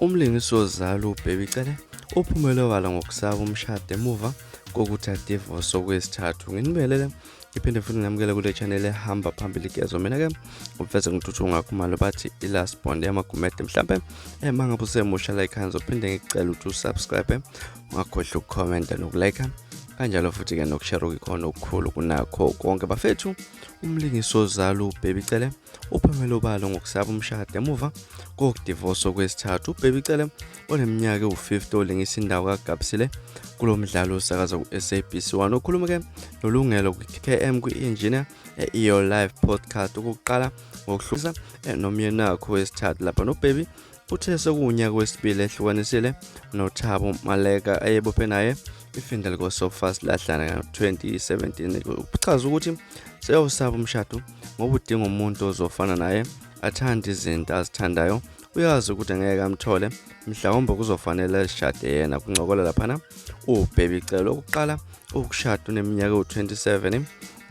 Umlingisi wozalo uBaby Cele uphumele obala ngokusaba umshado emuva kokuthi adivose okwesithathu nginibelele ngiphinde futhi nginamukele kule channel ehamba phambili kezo mina-ke uveze ngithuthu ngakhumalo bathi i-last bond yamagumede mhlawumbe ema ngabe usemusha like hands uphinde ngikucela ukuthi usubscribe ungakhohlwa ukukhomenta nokulike kanjalo futhi-ke nokushare okukhona okukhulu kunakho konke bafethu Umlingisi ozalo uBaby Cele uphumele obala ngokusaba umshado emuva kokudivosa okwesithathu. UBaby Cele oneminyaka ewu-50 olingisa indawo kaGabsile kulo mdlalo osakaza ku-SABC 1 okhulume-ke nolungelo kwi-KM kwi-engineer e-EO Live podcast okokuqala ngokuhlukisa eh, nomyenakho wesithathu lapha noBaby uthe sekuwunyaka wesibili ehlukanisile nothabo maleka ayebophe naye ifindel kosofas lahlana ngo-2017 uchaza ukuthi seyawusaba umshado ngoba udinga umuntu ozofana naye athande izinto azithandayo uyazi ukuthi ngeke amthole mhlawumbe kuzofanele lishade yena kuncokola laphana ubhebicelo okuqala ukushada uneminyaka ewu-27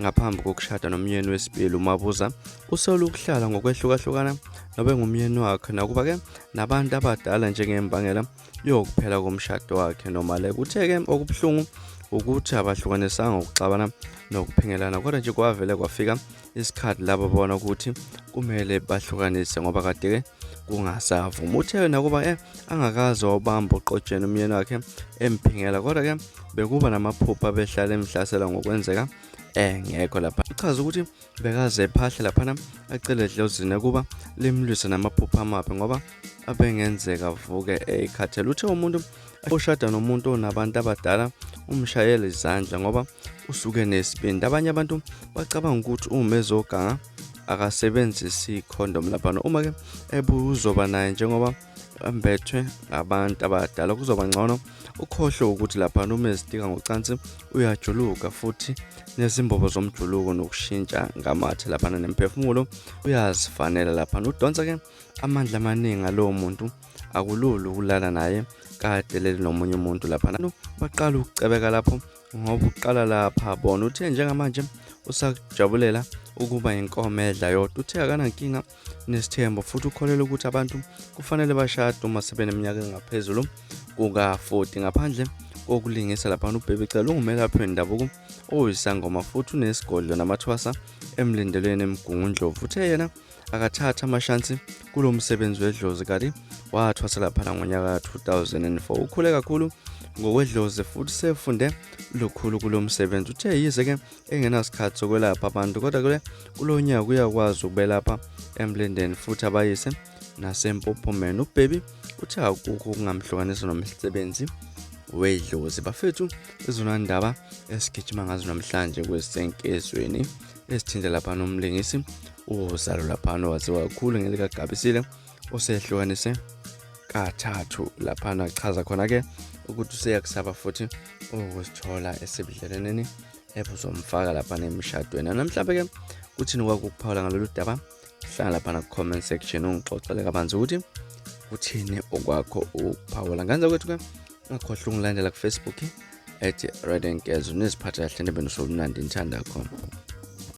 ngaphambi kokushada nomyeni wesibili umabuza usole ukuhlala ngokwehlukahlukana nobe ngumyeni wakhe nakuba-ke nabantu abadala njengembangela yokuphela komshado wakhe noma-le kuthe-ke okubuhlungu ukuthi abahlukanisanga ukuxabana nokuphingelana kodwa nje kwavele kwafika isikhathi labo bona ukuthi kumele bahlukanise ngoba kade-ke kungasavuma uthe yena kuba eh angakaze wabamba uqotsheni umyeni wakhe emphingela kodwa ke bekuba namaphupha behlala emhlasela ngokwenzeka engekho lapha uchaza ukuthi bekaze ephahle laphana acele edlozini ukuba limlwise namaphupha amabi ngoba abengenzeka avuke ekhathele uthe umuntu oshada nomuntu onabantu abadala umshayela izandla ngoba usuke nesibindi abanye abantu bacabanga ukuthi uma ezoganga akasebenzisi icondom laphana uma ke ebuzoba naye njengoba ambethwe ngabantu abadala kuzoba ngcono ukhohlwe ukuthi laphana uma ezitika ngocansi uyajuluka futhi nezimbobo zomjuluko nokushintsha ngamathe laphana nemphefumulo uyazifanela laphana udonsa ke amandla amaningi alowo muntu akulula ukulala naye kade leli nomunye umuntu laphana baqala ukucebeka lapho ngoba uqala lapha bona uthe njengamanje usakujabulela ukuba inkomo edla yodwa uthe akanankinga nesithembo futhi ukholelwa ukuthi abantu kufanele bashade uma sebeneminyaka engaphezulu kuka-40 ngaphandle kokulingisa laphana ubhebe cela ungumelaphi wendabuko oyisangoma futhi unesigodlo namathwasa emlindelweni emgungundlovu uthe yena akathatha amashansi kulo msebenzi wedlozi kanti wathwasela phana ngonyaka 2004 ukhule kakhulu ngokwedlozi futhi sefunde lukhulu kulo msebenzi uthe yize ke engenasikhathi sokwelapha abantu kodwa kule kulo nyaka uyakwazi ukubelapha emlindeni futhi abayise nasempophomeni ubhebi uthe akukho okungamhlukanisa nomsebenzi wedlozi bafethu izona ndaba esigijima ngazo namhlanje kwesenkezweni esithinta lapha nomlingisi uzalo laphana waziwa kakhulu ngelikagabisile osehlukanise kathathu laphana chaza khona-ke ukuthi useyakusaba futhi ukusithola esebudlelwaneni ebuzomfaka laphana emshadweni namhlawumbe-ke kuthini kwakukuphawula ngalolu daba hlala lapha na comment section ungixoxele kabanzi ukuthi uthini okwakho uphawula ngenza kwethu ke ungakhohlwa ungilandela kufacebook ethi red and girls uniziphatha kahle nebe nosolumnandi ngithanda khona